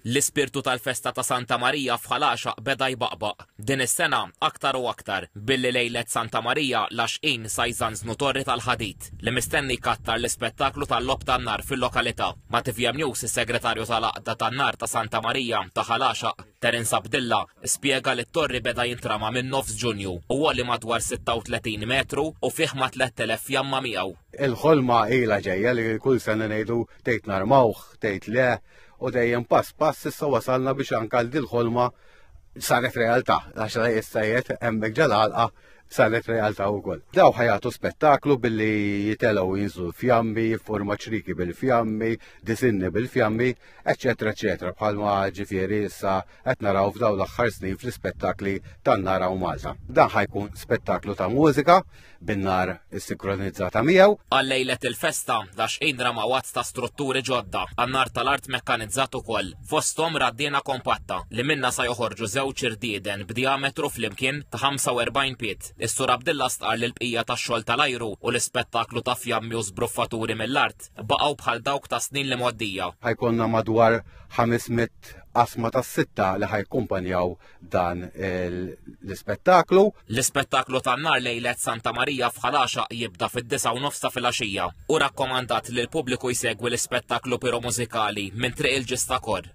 L-ispirtu tal-festa ta' Santa Marija f'Ħal-Għaxaq beda jbaqbaq, din is-sena aktar u aktar, billi lejlet Santa Marija l-Għaxqin sa jżanżnu torri tal-ħadid, li mistenni jkattar l-ispettaklu tal-logħob tan-nar fil-lokalità. Ma' tvm News is-Segretarju tal-Għaqda tan-Nar ta' Santa Marija ta' Ħal-Għaxaq, Terence Abdilla, spjega li t-torri beda jintrama minn nofs Ġunju u għoli madwar 36 metru u fih ma' 3,000 fjamma miegħu. Il-ħolma ilha ġejja li kull sena ngħidu tgħid narmawh, tgħid le, u dejjem pass pass issa wasalna biex anka l dil-ħolma saret realtà, għax la jistajiet hemmhekk ġalalqa saret realtà wkoll. Daw ħajatu spettaklu billi jitelgħu jinżlu fjammi, forma ċriki bil-fjammi, disinni bil-fjammi, eċetera, eċetera, bħalma ġifieri issa qed naraw f'daw l-aħħar snin fl-ispettakli tan-nara u Malta. Dan ħajkun spettaklu ta' mużika bin-nar sikronizzata miegħu. Għal lejlet il-festa, dax indra ma' wazz ta' strutturi ġodda, għannar tal-art mekkanizzat ukoll, fosthom raddiena kompatta li minna sa joħorġu żewġ irdieden b'diametru flimkien ta' 45 piet. Is-sur Abdilla stqar li l-bqija tax-xogħol tal-ajru u l-ispettaklu ta' fjammi u sbruffaturi mill-art baqgħu bħal dawk ta' snin li moddija. Ħajkonna madwar 500 tliet qasma ta' sitta li ħajkumpanjaw dan l-ispettaklu. L-ispettaklu tan-nar lejlet Santa Marija f'Ħalaxa jibda fid-disa' u nofs ta' filgħaxija u rakkomandat li l-pubbliku jsegwi l-ispettaklu piromużikali minn Triq il-Ġistakor.